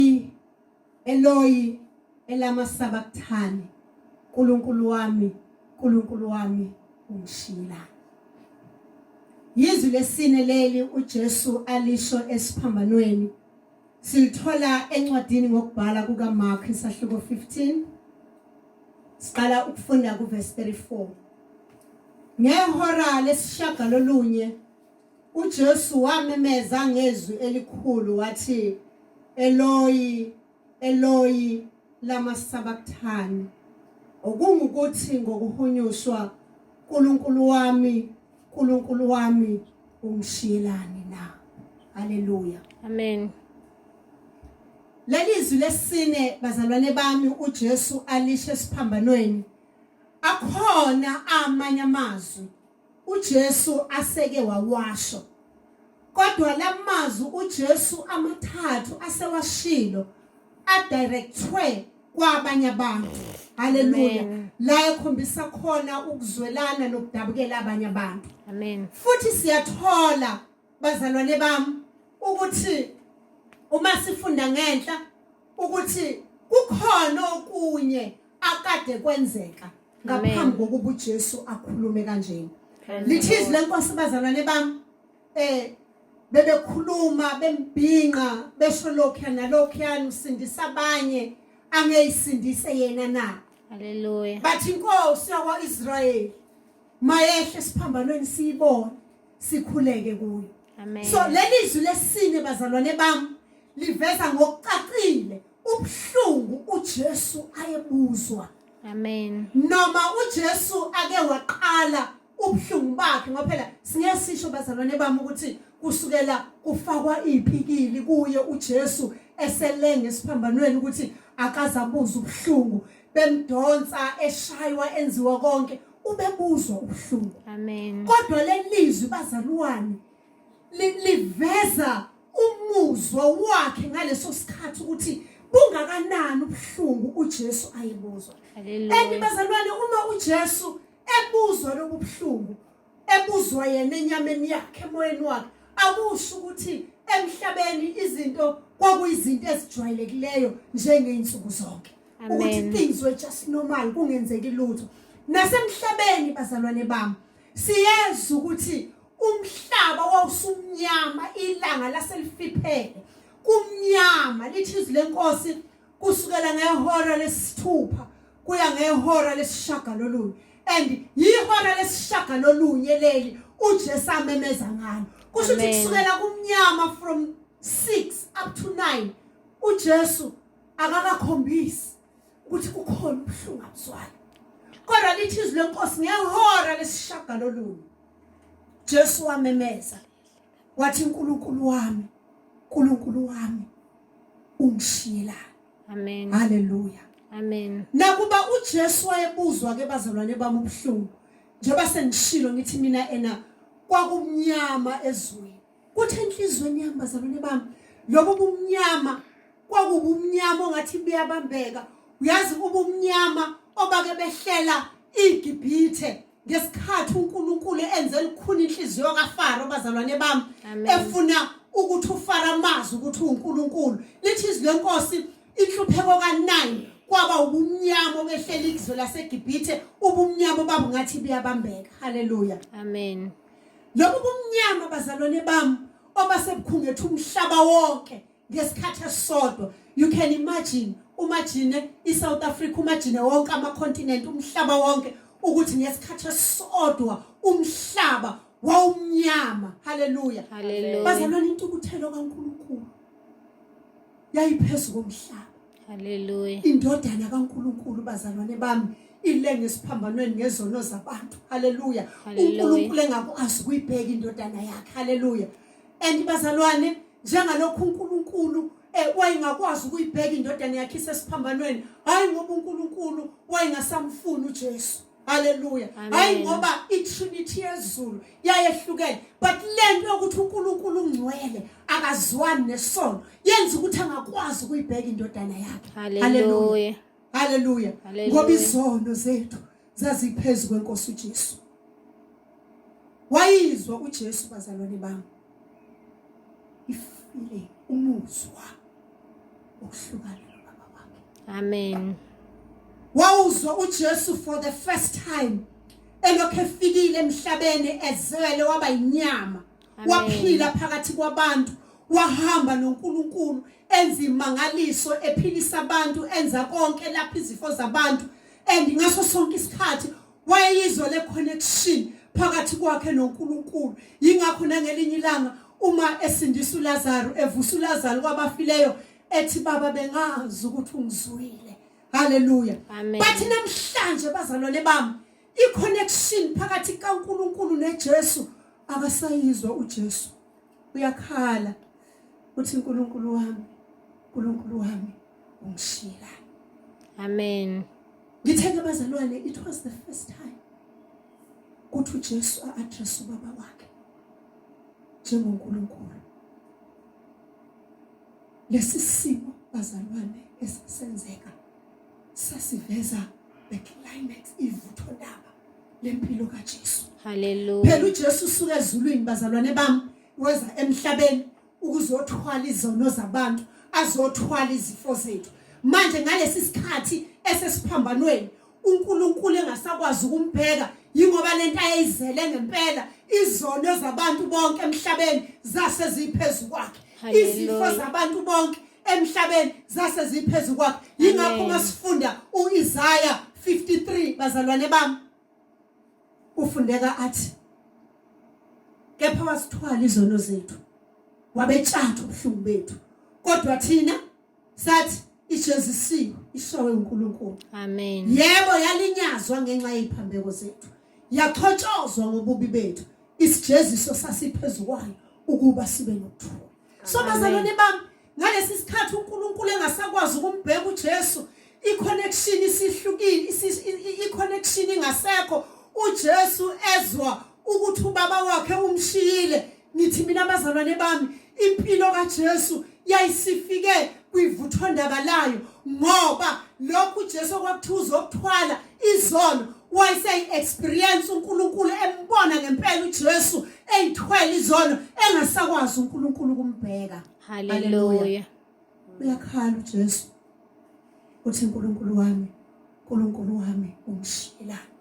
Eloyi, Eloyi, elama sabakthani, Nkulunkulu wami, Nkulunkulu wami, ungishiyelani? Yizwi lesine leli uJesu alisho esiphambanweni. Silithola encwadini ngokubhala kukaMark isahluko 15. Siqala ukufunda kuverse 34. Ngehora lesishagalolunye UJesu wamemeza ngezwi elikhulu wathi Eloyi Eloyi lama sabakthani okungukuthi ngokuhunyushwa uNkulunkulu wami uNkulunkulu wami ungishiyelani na haleluya amen lelizwi lesine bazalwane bami uJesu alishe siphambanweni akhona amanye amazwi uJesu aseke wawasho. Kodwa lamazwi uJesu amathathu asewashilo adirectwe kwabanye abantu. Haleluya. La ekhombisa khona ukuzwelana nokudabukela abanye abantu. Amen. Futhi siyathola bazalwane bami ukuthi uma sifunda ngenhla ukuthi kukhona okunye akade kwenzeka ngaphambi kokuba uJesu akhulume kanjena lithizi lenkosi bazalwane bami eh bebekhuluma bembhinqa besho lokho nalokho usindisa abanye angeyisindise yena na haleluya bathi inkosi yakwaIsrayeli mayehle siphambanweni siyibone sikhuleke kuyo amen so lelizwi lesine bazalwane bami liveza ngokucacile ubuhlungu uJesu ayebuzwa Amen. Noma uJesu ake waqala ubuhlungu bakhe ngoba phela singeke sisho bazalwane bami ukuthi kusukela kufakwa ipikili kuye uJesu eselenge esiphambanweni ukuthi akazabuza ubuhlungu bemdonsa eshaywa enziwa konke ubebuzwa ubuhlungu. Amen. Kodwa lelizwi bazalwane liveza umuzwa wakhe ngaleso sikhathi ukuthi bungakanani ubuhlungu uJesu ayebuzwa and bazalwane uma uJesu ebuzwa lobu buhlungu ebuzwa yena enyameni yakhe emoyeni wakhe akusho ukuthi emhlabeni izinto kwakuyizinto ezijwayelekileyo njengeyinsuku zonke ukuthi things were just normal kungenzeki lutho nasemhlabeni bazalwane bami Siyenza ukuthi umhlaba wawusumnyama ilanga laselifiphele kumnyama lithi izwi lenkosi kusukela ngehora lesithupha kuya ngehora lesishagalolunye and yihora lesishagalolunye leli uJesu amemeza ngalo kusho ukuthi kusukela kumnyama from 6 up to 9 uJesu akakakhombisi ukuthi kukhona ubuhlungu abuzwayo kodwa lithi izwi lenkosi ngehora lesishagalolunye Jesu wamemeza wathi uNkulunkulu wami uNkulunkulu wami ungishiyela amen haleluya amen nakuba uJesu wayebuzwa ke bazalwane bami ubuhlungu njengoba sengishilo ngithi mina ena kwakumnyama ezweni Kuthi enhlizweni yami bazalwane bami lobo bumnyama kwakubumnyama ongathi buyabambeka uyazi ubumnyama obake behlela iGibhithe ngesikhathi uNkulunkulu enze lukhulu inhliziyo kaFaro bazalwane bami efuna ukuthi uFaro amazi ukuthi uNkulunkulu lithi izwi lenkosi inhlupheko ka9 kwaba ubumnyama obehlela izwe laseGibhithe ubumnyama obabungathi buyabambeka haleluya amen Lokhu kumnyama bazalwane bami obasebukhungethe umhlaba wonke ngesikhathi esisodwa. You can imagine umajine iSouth Africa umajine wonke amacontinent umhlaba wonke ukuthi ngesikhathi esisodwa umhlaba wawumnyama. Hallelujah. Hallelujah. Bazalwane intukuthelo kaNkulunkulu yayiphezulu komhlaba. Haleluya. Indodana kaNkulunkulu bazalwane bami ilenge esiphambanweni ngezono zabantu. Haleluya. uNkulunkulu engakwazi ukuyibheka indodana yakhe. Haleluya. And bazalwane njengalokhu uNkulunkulu eh, wayengakwazi ukuyibheka indodana yakhe isesiphambanweni hayi ngoba uNkulunkulu wayengasamfuni uJesu Hallelujah. Hayi ngoba iTrinity yezulu yayehlukene but lento yokuthi uNkulunkulu ungcwele akazwani nesono yenza ukuthi angakwazi ukuyibheka indodana yakhe. Hallelujah. Hallelujah. Ngoba izono zethu zaziphezulu kwenkosi uJesu. Wayizwa uJesu bazalwane bami. ifile umuzwa ukuhlukana nobaba wakhe amen wawuzwa uJesu for the first time elokhu efikile emhlabeni ezele waba inyama waphila phakathi kwabantu wahamba noNkulunkulu enza imangaliso ephilisa abantu enza konke lapha izifo zabantu and ngaso sonke isikhathi wayeyizwe le-connection phakathi kwakhe nonkulunkulu yingakho nangelinye ilanga uma esindisa ulazaro evusa ulazaro kwabafileyo ethi baba bengazi ukuthi ungizwile haleluya bathi namhlanje bazalwane bami i-connection phakathi kankulunkulu nejesu akasayizwa ujesu uyakhala uthi uNkulunkulu wami uNkulunkulu wami ungishila amen ngithe ke bazalwane it was the first time kuthi uJesu a-address ubaba wakhe njengoNkulunkulu lesi simo bazalwane esisenzeka sasiveza the climax ivutho ndaba lempilo kaJesu haleluya phela uJesu usuka ezulwini bazalwane bami weza emhlabeni ukuzothwala izono zabantu azothwala izifo zethu manje ngalesi sikhathi esesiphambanweni uNkulunkulu engasakwazi ukumbheka yingoba lento ayizele ngempela izono zabantu bonke emhlabeni zase ziphezulu kwakhe izifo zabantu bonke emhlabeni zase ziphezu kwakhe yingakho uma sifunda uIsaya 53 bazalwane bami ufundeka athi kepha wasithwala izono zethu wabetshatha ubuhlungu bethu kodwa thina sathi ijezisiwe ishawe uNkulunkulu amen yebo yalinyazwa ngenxa yeziphambeko zethu yaxhotshozwa ngobubi bethu isijeziso sasiphezu kwayo ukuba sibe nokuthula so bazalwane bami ngalesi sikhathi uNkulunkulu engasakwazi ukumbheka uJesu iconnection isihlukile iconnection ingasekho uJesu ezwa ukuthi ubaba wakhe umshiyile ngithi mina bazalwane bami Impilo kaJesu yayisifike kwivuthondaba layo ngoba lokhu uJesu okwakuthiwa uzokuthwala izono wayeseyi-experience uNkulunkulu embona ngempela uJesu eyithwele izono engasakwazi uNkulunkulu kumbheka haleluya uyakhala uJesu uthi uNkulunkulu wami uNkulunkulu wami ungishiyelani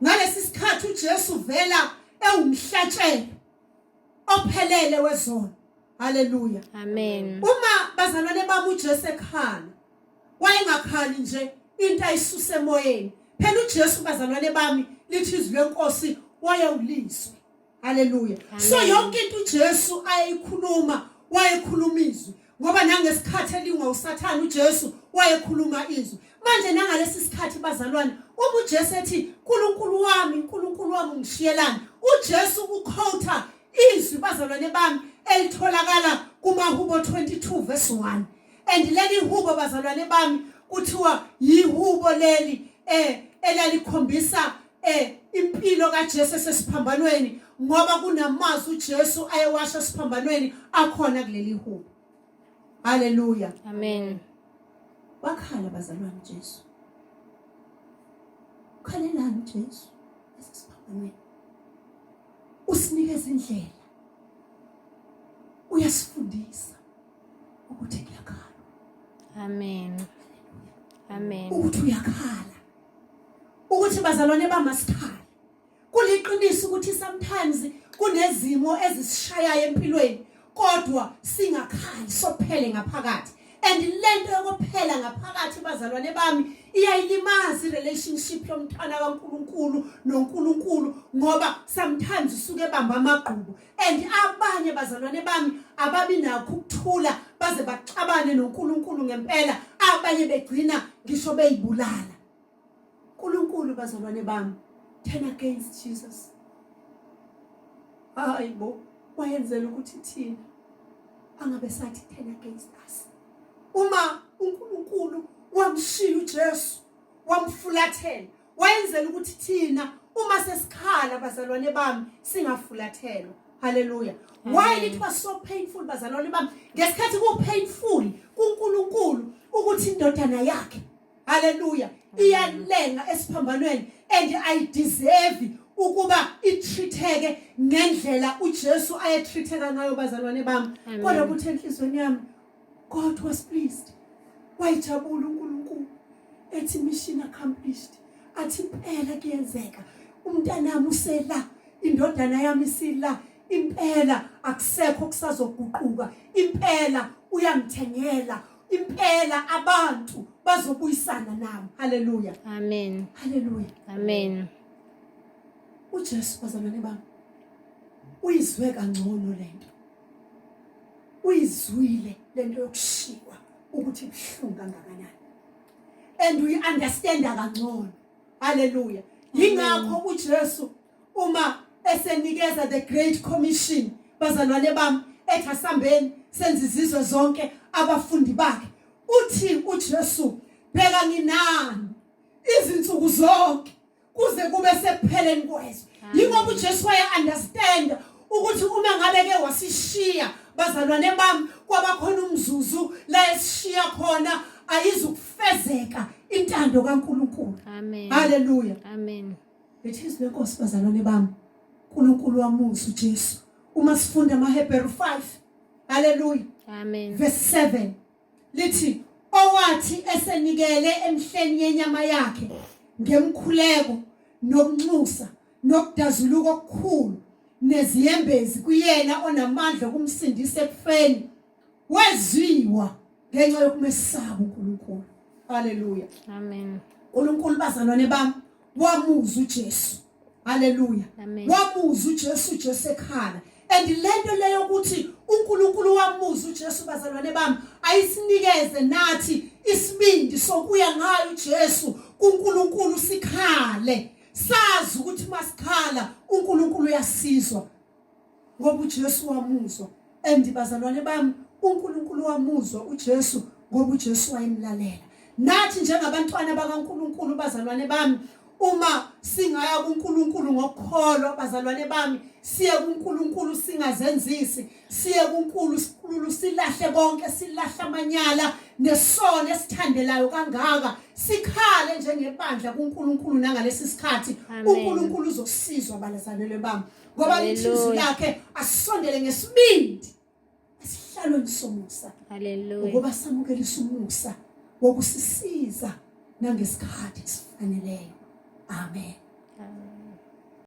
ngalesi sikhathi uJesu vela ewumhlatshelo ophelele wezono haleluya amen uma bazalwane bami uJesu ekhala wayengakhali nje into ayisuse emoyeni phela uJesu bazalwane bami lithi izwi lenkosi wayewulizwe haleluya so yonke into uJesu ayikhuluma wayekhuluma izwi ngoba nangesikhathi elingwa usathane uJesu wayekhuluma izwi manje nangalesi sikhathi bazalwane uma uJesu ethi uNkulunkulu wami uNkulunkulu wami ungishiyelani uJesu ukhotha izwi bazalwane bami elitholakala kumahubo 22 verse 1 and leli hubo bazalwane bami kuthiwa yihubo leli eh elalikhombisa Eh impilo kaJesu esesiphambanweni ngoba kunamazwi uJesu ayewasha siphambanweni akhona kuleli hubo. Haleluya. Amen. Wakhala bazalwane Jesu. Khalelani Jesu esesiphambanweni. Usinikeza indlela. Uyasifundisa ukuthi kuyakhala. Amen. Amen. Ukuthi uyakhala. ukuthi bazalwane bamasphala kuliqiniso ukuthi sometimes kunezimo ezisishayayo empilweni kodwa singakhali sophele ngaphakathi and lento yokuphela ngaphakathi bazalwane bami iyayilimaza irelationship yomntwana kaNkuluNkulu noNkuluNkulu ngoba sometimes usuke ebamba amagqubu and abanye bazalwane bami ababi nakho ukuthula baze baxabane noNkulunkulu ngempela abanye begcina ngisho beyibulala uNkulunkulu bazalwane bami turn against Jesus hayi bo wayenzela ukuthi thina angabe sathi turn against us uma uNkulunkulu wamshiya uJesu wamfulathela wayenzela ukuthi thina uma sesikhala bazalwane bami singafulathelwa haleluya why it was so painful bazalwane bami ngesikhathi ku painful kuNkulunkulu ukuthi indodana yakhe haleluya iyalenga esiphambanweni and i deserve ukuba itreateke ngendlela uJesu ayetreateka ngayo bazalwane bami kodwa kuthi enhlizweni yami God was pleased wayijabula uNkulunkulu ethi mission accomplished athi impela kuyenzeka umntanami usela indodana yami isila impela akusekho kusazoguquka impela uyangithengela impela abantu bazobuyisana nami haleluya amen haleluya amen uJesu bazalwane bami uyizwe kangcono lento uyizwile lento yokushiywa ukuthi ibuhlungu kangakanani and uyi understand kangcono haleluya yingakho uJesu uma esenikeza the great commission bazalwane bami ethi asambeni senze izizwe zonke abafundi bakhe uthi uJesu bheka nginani izinsuku zonke kuze kube sekupheleni kwezwe yingoba uJesu waya understand ukuthi uma ngabe ke wasishiya bazalwane bami kwabakhona umzuzu la esishiya khona ayizukufezeka intando kaNkuluNkulu amen haleluya amen ngithize lenkosi bazalwane bami uNkulunkulu wamusa uJesu uma sifunda amaHebheru 5 haleluya amen verse 7 lithi owathi esenikele emhleni yenyama yakhe ngemkhuleko nokunxusa nokudazuluka okukhulu neziyembezi kuyena onamandla okumsindisa ekufeni wezwiwa ngenxa yokumesaba uNkulunkulu haleluya amen uNkulunkulu bazalwane bami wamuza uJesu haleluya wamuza uJesu uJesu ekhala and lento leyo ukuthi uNkulunkulu wamuza uJesu bazalwane bami ayisinikeze nathi isibindi sokuya ngayo uJesu kuNkulunkulu sikhale sazi ukuthi masikhala uNkulunkulu uyasizwa ngoba uJesu wamuzwa and bazalwane bami uNkulunkulu wamuzwa uJesu ngoba uJesu wayemlalela nathi njengabantwana bakaNkulunkulu bazalwane bami uma singaya kuNkulunkulu ngokukholwa bazalwane bami siye kuNkulunkulu singazenzisi siye kuNkulunkulu silahle konke silahle amanyala nesono esithandelayo kangaka sikhale njengebandla kuNkulunkulu nangalesi sikhathi uNkulunkulu uzosizwa balazalelwe bami ngoba lithizwi lakhe asondele ngesibindi esihlalweni somusa ngoba samukelisa umusa wokusisiza nangesikhathi esifaneleyo amen, amen.